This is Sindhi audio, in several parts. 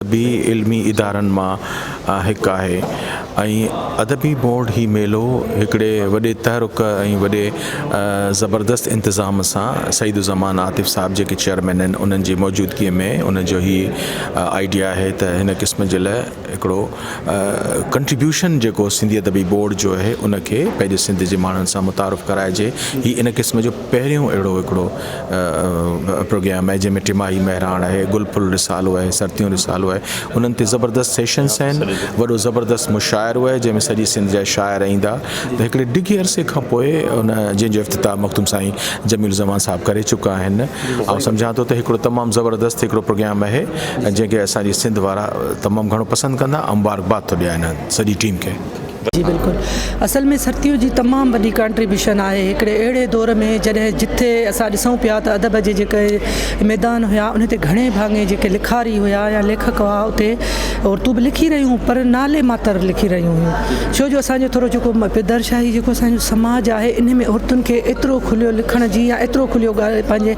ادبي علمي ادارن مان هڪ آهي ۽ ادبي بورڊ هي ميلو هڪڙي وڏي تحرڪ ۽ وڏي زبردست انتظام سان سعيد الزمان عاطف صاحب جيڪي چيئرمين آهن انهن جي موجودگي ۾ ان جو هي آئيڊيا آهي ته هن قسم جي لاء هڪڙو ڪنٽريبيوشن جيڪو سنڌي ادبي بورڊ جو اهي ان کي پنهنجي سنڌ جي ماڻهن سان متعارف ڪرائجي هي ان قسم جو پهريون اهڙو هڪڙو پروگيام آهي جنهن ۾ ٽماهي مهراڻ آهي گل ڦل رسالو آهي سرتيون رسالو آهي انهن تي زبردست سيشنس آهن وڏو زبردست مشاعرو آهي جنهن ۾ سڄي سنڌ جا شاعر ايندا ته هڪڙي ڊگهي عرصي کان پوء ان جنهن جو افتتاح مخدوم سائين جميل زمان صاحب ڪري چڪا آهن آئون سمجهان ٿو ته هڪڙو تمام زبردست هڪڙو پروگيام آهي ۽ جنهن کي اسان جي سنڌ وارا تمام گهڻو پسند ڪندا ۽ مبارڪباد ٿو ڏيان انهن سڄي ٽيم کي. جي بلڪل اصل ۾ سرتيو جي تمام وڏي ڪانٽريبيوشن آهي هڪڙي اهڙي دور ۾ جڏهن جتي اسان ڏسون پيا ته ادب جي جيڪي ميدان هيا انهي تي گهڻي ڀاڱي جيڪي لکاري هيا يا ليکڪ هئا اتي عورتون به لکي رهيون پر نالي ماتر لکي رهيون هيون ڇو جو اسان جو ٿورو جيڪو پدر شاهي جيڪو اسان جو سماج آهي انهي ۾ عورتن کي ايترو کليو لکڻ جي يا ايترو کليو ڳالهه پنهنجي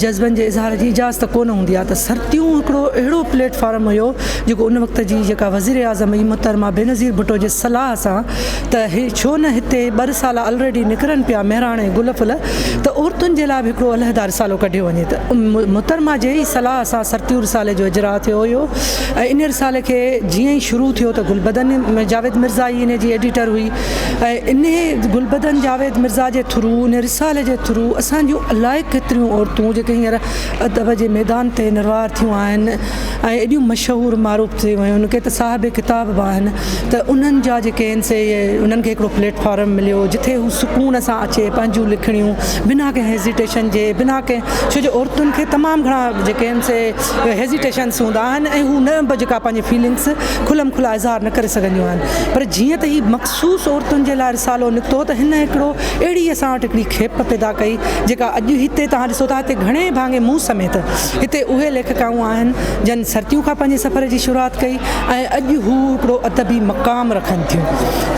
جذبن جي اظهار جي اجازت ڪو نه هوندي آهي ته سرتيون هڪڙو اهڙو پليٽ فارم هيو جيڪو ان وقت جي جيڪا وزير اعظم هئي محترمه بينظير ڀٽو جي صلاح سان ته ڇو نه هتي ٻه رسالا الريڊي نڪرن پيا مهراڻي گل ڦل ته عورتن جي لاء به هڪڙو علحده رسالو ڪڍيو وڃي ته محترمه جي ئي صلاح سان سرتيون رسالي جو اجراء ٿيو هيو ۽ ان رسالي کي جيئن ئي شروع ٿيو ته گل بدن جاويد مرزا ئي ان جي ايڊيٽر هئي ۽ انهي گلبدن جاويد مرزا جي ٿرو انهي رسالي جي ٿرو اسان جون الائي ڪيتريون عورتون جيڪي هينئر ادب جي ميدان تي نروار ٿيون آهن ۽ ايڏيون مشهور معروف ٿي ويون ڪي ته صاحب ڪتاب به آهن ته انهن جا جيڪي آهن سي انهن کي هڪڙو پليٽ فارم مليو جتي هو سڪون سان اچي پنهنجون لکڻيون بنا ڪنهن هيزيٽيشن جي بنا ڪنهن ڇو جو عورتن کي تمام گهڻا جيڪي آهن سي هيزيٽيشنس هوندا آهن ۽ هو نه به جيڪا پنهنجي فيلنگس کلم کلا اظهار نه ڪري سگهنديون آهن پر جيئن ته هي مخصوص عورتن جي لاء رسالو نڪتو ته هن هڪڙو اهڙي اسان وٽ هڪڙي کيپ پيدا ڪئي جيڪا اڄ هتي توهان ڏسو ٿا هتي گهڻي ڀاڱي مون سميت هتي اهي ليکڪائون آهن جن سرتيون کان پنهنجي سفر جي شروعات ڪئي ۽ اڄ هو هڪڙو ادبي مقام رکن ٿيون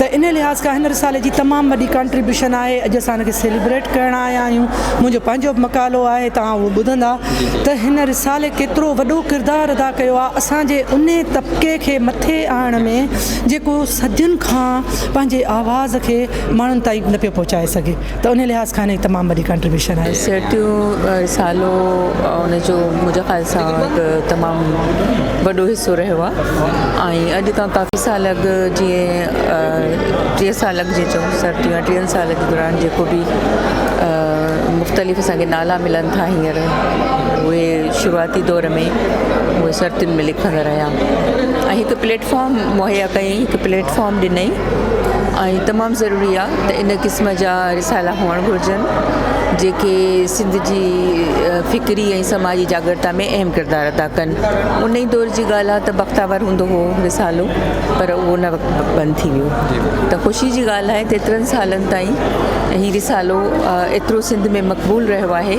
ته ان لحاظ کان هن رسالي جي تمام وڏي ڪانٽريبيوشن آهي اڄ اسان ان کي سيليبريٽ ڪرڻ آيا آهيون منهنجو پنهنجو به مقالو آهي توهان اهو ٻڌندا ته هن رسالي ڪيترو وڏو ڪردار ادا ڪيو آهي اسان جي انهي طبقي کي مٿي آڻڻ ۾ جيڪو صدين کان پنهنجي آواز کي ماڻهن تائين نه پيو پهچائي سگهي ته انهي لحاظ کان هن جي تمام وڏي ڪانٽريبيوشن آهي. سيٽيون رسالو ان جو منهنجي خيال سان هڪ تمام وڏو حصو رهيو آهي ۽ اڄ کان ڪافي سال اڳ جيئن ٽيهه سال اڳ جي چئون سيٽيون ٽيهن سالن جي دوران جيڪو به مختلف اسان کي نالا ملن ٿا هينئر اهي شروعاتي دور ۾ اهي سرتين ۾ لکندا رهيا ۽ هڪ پليٽفارم مهيا ڪيائين هڪ پليٽفارم ڏنائين ۽ تمام ضروري آهي ته ان قسم جا رسالا هئڻ گهرجن جيڪي سنڌ جي فڪري ۽ سماجي جاڳرتا ۾ اهم ڪردار ادا ڪن ان ئي دور جي ڳالهه آهي ته بختاور هوندو هو رسالو پر اهو ان وقت بند ٿي ويو ته خوشي جي ڳالهه آهي ته ايترن سالن تائين هي رسالو ايترو سنڌ ۾ مقبول رهيو آهي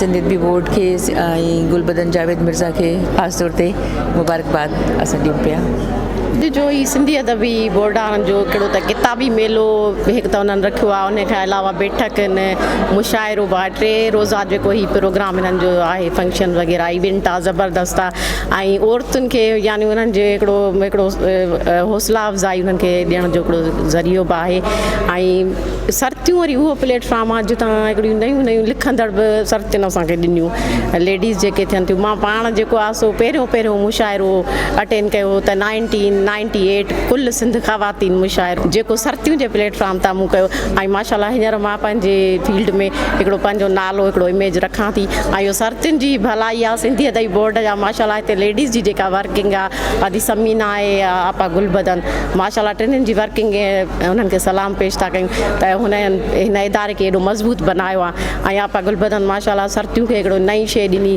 سنڌ ادبي بورڊ کي ۽ گلبدن جاويد مرزا کي خاص طور تي مبارڪباد اسان ڏيون پيا. اڄ جو هي سنڌي ادبي بورڊان جو هڪڙو ته ڪتابي ميلو هڪ ته انهن رکيو آهي ان کان علاوه بيٺڪ ان مشاعرو به آهي ٽي روزا جيڪو هي پروگرام انهن جو آهي فنڪشن وغيره ايونٽ آهي زبردست آهي ۽ عورتن کي يعني انهن جو هڪڙو هڪڙو حوصلا افزائي انهن کي ڏيڻ جو هڪڙو ذريعو به آهي ۽ سرتيون وري اهو پليٽ فارم آهي جتان هڪڙيون نيون نيون لکندڙ به سرتين اسان کي ڏنيون ليڊيز جيڪي ٿين ٿيون مان پاڻ جيڪو آهي سو پهريون پهريون مشاعرو اٽينڊ ڪيو هو ته نائنٽين نائنٽي ايٽ ڪل سنڌ خواتين مشاعرو جيڪو سرتيون جي پليٽ فارم تان مون ڪيو ۽ ماشاء الله هينئر مان پنهنجي فيلڊ ۾ هڪڙو پنهنجو نالو هڪڙو اميج رکان ٿي ۽ اهو سرتين جي ڀلائي آهي سنڌي ادبي بورڊ جا ماشاء الله هتي ليڊيز جي جيڪا ورڪنگ آهي ادي ثمينه آهي يا آپا گل بدن ماشاء الله ٽنهن جي ورڪنگ انهن کي سلام پيش ٿا ڪيون ته هن هن اداري کي ايڏو مضبوط بنايو آ ۽ آپا گل بدن ماشاء الله سرتيون کي هڪڙو نئين شي ڏني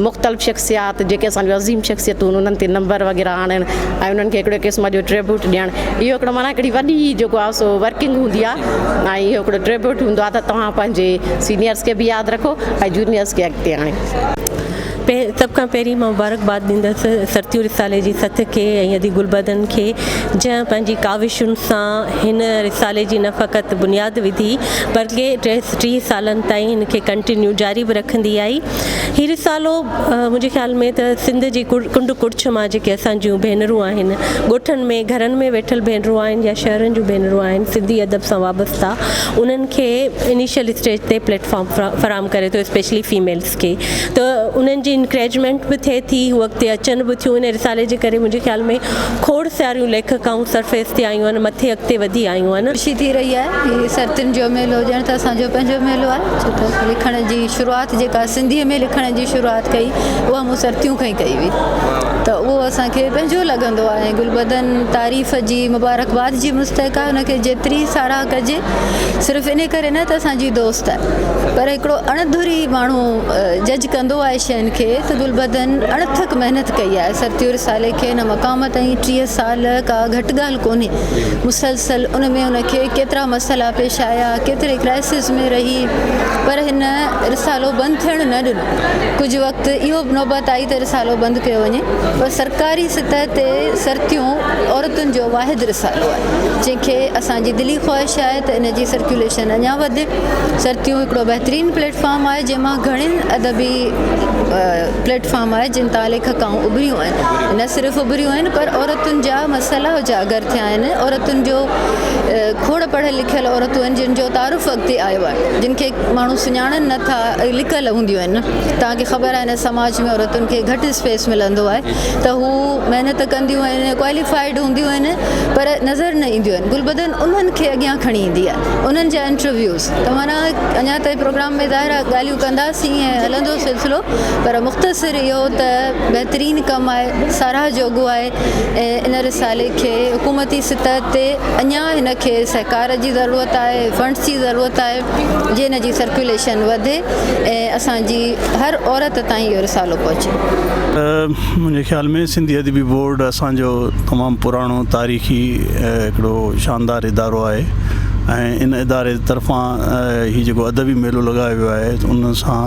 مختلف شخصيات جيڪي اسان جو عظيم شخصيتون انهن تي نمبر وغيره آڻڻ ۽ انهن کي هڪڙو قسم جو ٽريبوٽ ڏيڻ اهو هڪڙو معنيٰ هڪڙي وڏي جيڪو آ سو ورڪنگ هوندي آ ۽ اهو هڪڙو ٽريبوٽ هوندو آ ته توهان پنهنجي سينيئرس کي به ياد رکو ۽ جونيئرس کي اڳتي آڻيو. سڀ کان پهرين مان مبارڪباد ڏيندس سرتيون رسالي جي سٿ کي ۽ ادي گلبدن کي جنهن پنهنجي ڪاوشن سان هن رسالي جي نه فقط بنياد وڌي بلڪه ٽيهه سالن تائين هن کي ڪنٽينيو جاري به رکندي آئي هي رسالو منهنجي خيال ۾ ته سنڌ جي ڪنڊ ڪڙڇ مان جيڪي اسان جون ڀينرون آهن ڳوٺن ۾ گهرن ۾ ويٺل ڀينرون آهن يا شهرن جون ڀينرون آهن سنڌي ادب سان وابسته انهن کي انيشل اسٽيج تي پليٽ فارم فراهم ڪري ٿو اسپيشلي فيميلز کي ته انهن جي انڪريجمينٽ به ٿئي ٿي هو اڳتي اچن به ٿيون ان رسالي جي ڪري منهنجي خيال ۾ کوڙ ساريون ليکڪائون سرفيس تي آيون آهن مٿي اڳتي وڌي آيون آهن. خوشي ٿي رهي آهي هي سرتين جو ميلو ڄڻ ته اسان جو پنهنجو ميلو آهي ڇو ته لکڻ جي شروعات جيڪا سنڌي ۾ لکڻ جي شروعات ڪئي اها مون سرتيون کان ئي ڪئي هئي ته اهو اسان کي پنهنجو لڳندو آهي ۽ گلبدن تعريف جي مبارڪباد جي مستحق آهي ان کي جيتري ساراهه ڪجي صرف انهي ڪري نه ته اسان جي دوست آهي پر هڪڙو اڻ ڌري ماڻهو جج ڪندو آهي شين کي ته گلبدن اڻ ٿڪ محنت ڪئي آهي ستيو رسالي کي هن مقام تائين ٽيهه سال ڪا گهٽ ڳالهه ڪونهي مسلسل ان ۾ هن کي ڪيترا مسئلا پيش آيا ڪيتري ڪرائسز ۾ رهي پر هن رسالو بند ٿيڻ نه ڏنو ڪجهه وقت اهو به نوبت آئي ته رسالو بند ڪيو وڃي پر سرڪاري سطح تي ستيو عورتن جو واحد رسالو آهي. جنهن کي اسان جي دلي خواهش آهي ته ان جي سرڪيوليشن اڃا وڌي. سرتيون هڪڙو بهترين پليٽ فارم آهي جنهن مان گهڻين ادبي پليٽ فارم آهي جن تان ليکڪائون اڀريون آهن نه صرف اڀريون آهن پر عورتن جا مسئلا اجاگر ٿيا آهن عورتن جو کوڙ پڙهيل لکيل عورتون آهن جن جو تعارف اڳتي آيو آهي جن کي ماڻهو سڃاڻن نه ٿا لڪل هونديون آهن توهان کي خبر آهي هن سماج ۾ عورتن کي گهٽ اسپيس ملندو آهي ته هو محنت ڪنديون آهن ڪواليفائيڊ هونديون آهن پر نظر نه اينديون آهن گلبدن انهن کي اڳيان کڻي ايندي آهي انهن جا انٽرويوز توهان اڃان تائين پروگرام ۾ ظاهر آهي ڳالهيون ڪنداسين ۽ هلندو سلسلو پر مختصر اهو ته بهترين ڪم آهي ساراهه جوڳو آهي ۽ ان رسالي کي حڪومتي سطح تي اڃان هن کي سهڪار جي ضرورت آهي فنڊز جي ضرورت آهي جي ان جي سرڪيوليشن وڌي ۽ اسان جي هر عورت تائين اهو رسالو پهچي. منهنجي خيال ۾ سنڌي ادبي بورڊ اسان جو تمام پراڻو تاريخي هڪڙو شاندار ادارو آهي ۽ ان اداري طرفان هي جيڪو ادبي ميلو لڳايو ويو آهي ان سان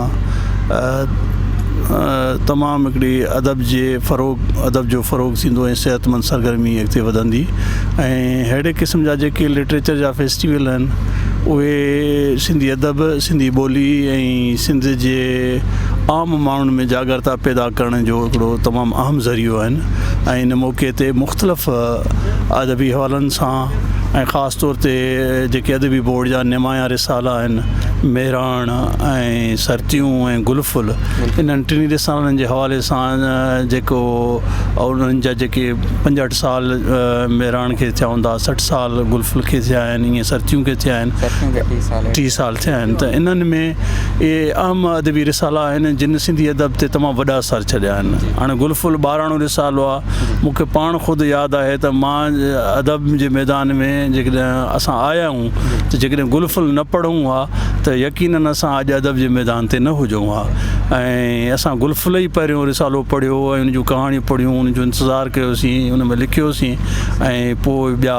تمام هڪڙي ادب جي فروغ ادب جو فروغ ٿيندو ۽ صحت مند سرگرمي اڳتي وڌندي ۽ ههڙي قسم جا جيڪي لٽريچر جا فيسٽيول آهن اهي سنڌي ادب، سنڌي ٻولي ۽ سنڌ جي عام ماڻهن ۾ جاڳرتا پيدا ڪرڻ جو هڪڙو تمام اهم ذريعو آهن ۽ ان موقعي تي مختلف ادبي حوالن سان ۽ خاص طور تي جيڪي ادبي بورڊ جا نمايان رسالا آهن مهراڻ ۽ سرتيون ۽ گل ڦل انهن ٽنهي رسالن جي حوالي سان جيڪو انهن جا جيڪي پنجهٺ سال مهراڻ کي ٿيا هوندا سٺ سال گل ڦل کي ٿيا آهن انهيء سرتيون کي ٿيا آهن. سرتيون کي ٽي سال. ٽي سال ٿيا آهن ته انهن ۾ اهي اهم ادبي رسالا آهن، جن سنڌي ادب تي تمام وڏا اثر ڇڏيا آهن. هاڻي گل ڦل ٻاراڻو رسالو آهي. مون کي پاڻ خود ياد آهي ته مان ادب جي ميدان ۾ جيڪڏهن اسان آيا آهيون ته جيڪڏهن گل ڦل نه پڙهون ها ته يقينن اسان اڄ ادب جي ميدان تي نه هجون ها ۽ اسان گل ڦل ئي پهريون رسالو پڙهيو ۽ ان جون ڪهاڻيون پڙهيون، ان جو انتظار ڪيوسين، ان ۾ لکيوسين. ۽ پوء ٻيا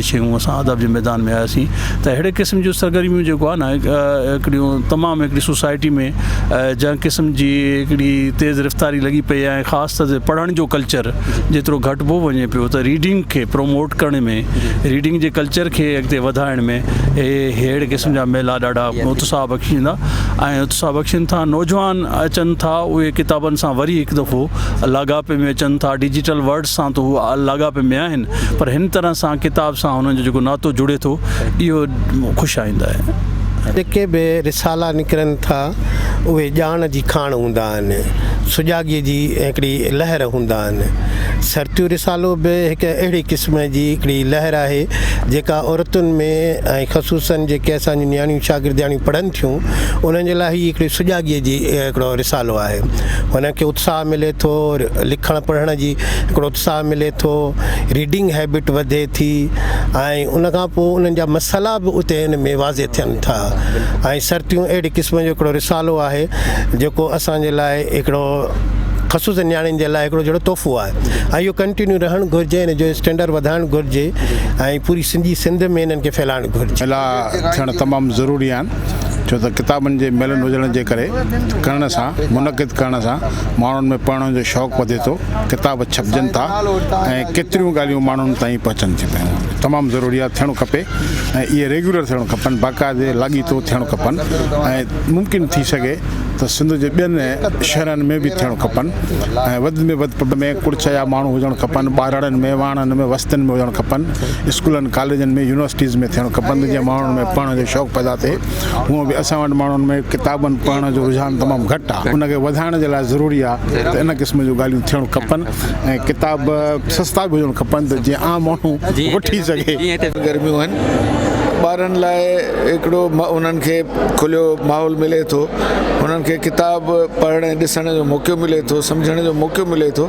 شيون اسان ادب جي ميدان ۾ آياسين ته اهڙي قسم جون سرگرميون جيڪو آهي نه هڪڙيون تمام هڪڙي سوسائٽي ۾ جنهن قسم جي هڪڙي تيز رفتاري لڳي پئي آهي خاص طور تي پڙهڻ جو ڪلچر جيترو گهٽبو وڃي پيو ته ريڊنگ کي پروموٽ ڪرڻ ۾ ريڊنگ جي ڪلچر کي اڳتي وڌائڻ ۾ اهڙي قسم جا ميلا ڏاڍا اتساهه بخشيندا ۽ اتساهه بخشين ٿا نوجوان اچن ٿا اهي ڪتابن سان وري هڪ دفعو لاڳاپي ۾ اچن ٿا ڊجيٽل ورڊ سان ته هو لاڳاپي ۾ آهن پر هن طرح سان ڪتاب سان هنن جو جيڪو ناتو جڙي ٿو اهو خوش آئند آهي. جيڪي به رسالا نڪرن ٿا اهي ڄاڻ جي کاڻ هوندا آهن، سجاڳيء جي هڪڙي لهر هوندا آهن. سرتيون رسالو به هڪ اهڙي قسم جي هڪڙي لهر آهي جيڪا عورتن ۾ ۽ خصوصاً جيڪي اسان جون نياڻيون شاگردياڻيون پڙهن ٿيون انهن جي لاء هي هڪڙي سجاڳيء جي هڪڙو رسالو آهي. هن کي اتساهه ملي ٿو لکڻ پڙهڻ جي هڪڙو اتساهه ملي ٿو ريڊنگ هيبٽ وڌي ٿي ۽ ان کان پوء انهن جا مسئلا به اتي هن ۾ واضح ٿين ٿا ۽ سرتيون اهڙي قسم جو هڪڙو رسالو آهي جيڪو اسان جي لاء هڪڙو خصوص نياڻين جي لاء هڪڙو جهڙو تحفو آهي ۽ اهو ڪنٽينيو رهڻ گهرجي ان جو اسٽينڊر وڌائڻ گهرجي ۽ پوري سڄي سنڌ ۾ انهن کي ڦهلائڻ گهرجي ٿيڻ تمام ضروري آهن ڇو ته ڪتابن جي ميلن هجڻ جي ڪري ڪرڻ سان منعقد ڪرڻ سان ماڻهن ۾ پڙهڻ جو شوق وڌي ٿو ڪتاب ڇپجن ٿا ۽ ڪيتريون ڳالهيون ماڻهن تائين پهچن ٿيون پيون تمام ضروري آهي ٿيڻ کپي ۽ اهي ريگيولر ٿيڻ کپن باقاعدي لاڳيتو ٿيڻ کپن ۽ ممڪن ٿي سگهي ته سنڌ جي ٻين شهرن ۾ به ٿيڻ کپن ۽ وڌ ۾ وڌ پب ۾ ڪڙڇ جا ماڻهو هجڻ کپن ٻارڙن ۾ واڻن ۾ وستين ۾ هجڻ کپن اسڪولن، ڪاليجن ۾ يونيورسٽيز ۾ ٿيڻ کپن جيئن ماڻهن ۾ پڙهڻ جو شوق پيدا ٿئي. هونئن به اسان وٽ ماڻهن ۾ ڪتابن پڙهڻ جو رجحان تمام گهٽ آهي. ان کي وڌائڻ جي لاء ضروري آهي ته ان قسم جون ڳالهيون ٿيڻ کپن ۽ ڪتاب سستا به هجڻ کپن ته جيئن عام ماڻهو وٺي سگهي. گرميون آهن ٻارن لاء هڪڙو انهن کي کليو ماحول ملي ٿو. انهن کي ڪتاب پڙهڻ ۽ ڏسڻ جو موقعو ملي ٿو. سمجهڻ جو موقعو ملي ٿو.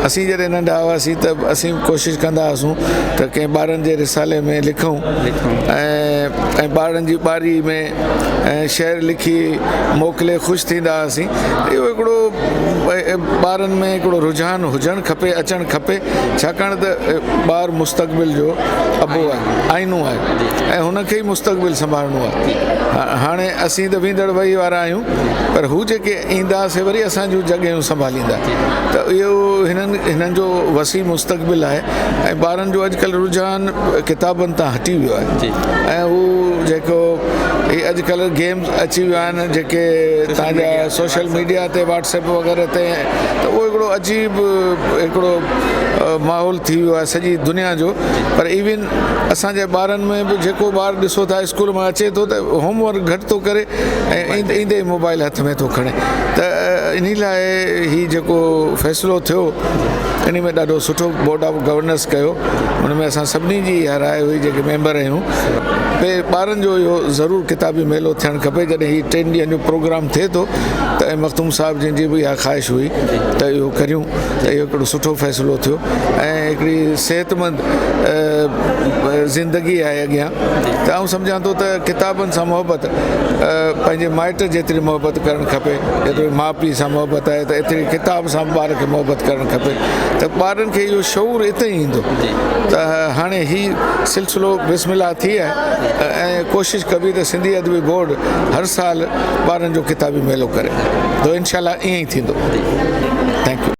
اسين جڏهن ننڍا هئاسين ته اسين ڪوشش ڪندا هئاسون ته ڪنهن ٻارن جي رسالي ۾ لکون ۽ ٻارن جي ٻاري ۾ شعر لکي موڪلي خوش ٿيندا هئاسين اهو هڪڙو ٻارن ۾ هڪڙو رجحان هجڻ کپي اچڻ کپي ڇاڪاڻ ته ٻار مستقبل جو ابو آهي آئينو آهي ۽ هن کي ئي مستقبل سنڀالڻو آهي هاڻي اسين ته ويندڙ وهي وارا آهيون پر هو جيڪي ايندا سي وري اسان جون جڳهيون سنڀاليندا ڏيندا ته اهو هنن هنن جو وسيع مستقبل آهي ۽ ٻارن جو اڄ ڪلهه رجحان ڪتابن تان هٽي ويو آهي جي ۽ هو جيڪو هي اڄ ڪلهه گيمز اچي ويا آهن جيڪي تان جا سوشل ميڊيا تي واٽسپ وغيره تي ته اهو هڪڙو عجيب هڪڙو ماحول ٿي ويو آهي سڄي دنيا جو پر ايون اسان جي ٻارن ۾ به جيڪو ٻار ڏسو ٿا اسڪول مان اچي ٿو ته هوم ورڪ گهٽ ٿو ڪري ۽ ايندي ايندي موبائل هٿ ۾ ٿو کڻي ته انهي لاء هي جيڪو فيصلو ٿيو انهي ۾ ڏاڍو سٺو بورڊ آف گورنرس ڪيو ان ۾ اسان سڀني جي اها راء هئي جيڪي ميمبر آهيون ڀي ٻارن جو اهو ضرور ڪتابي ميلو ٿيڻ کپي جڏهن هي ٽن ڏينهن جو پروگرام ٿئي ٿو ته ۽ مخدوم صاحب جن جي به اها خواهش هئي ته اهو ڪريون ته اهو هڪڙو سٺو فيصلو ٿيو ۽ هڪڙي صحت مند زندگي آهي اڳيان ته آئون سمجهان ٿو ته ڪتابن سان محبت پنهنجي مائٽ جيتري محبت ڪرڻ کپي، جيترو ماء پيء سان محبت آهي ته ايتري ڪتاب سان به ٻار کي محبت ڪرڻ کپي ته ٻارن کي اهو شعور اتي ئي ايندو ته هاڻي هي سلسلو بسم الله ٿي آهي ۽ ڪوشش ڪبي ته سنڌي ادبي بورڊ هر سال ٻارن جو ڪتابي ميلو ڪري ته انشاء الله ائين ئي ٿيندو. Thank you.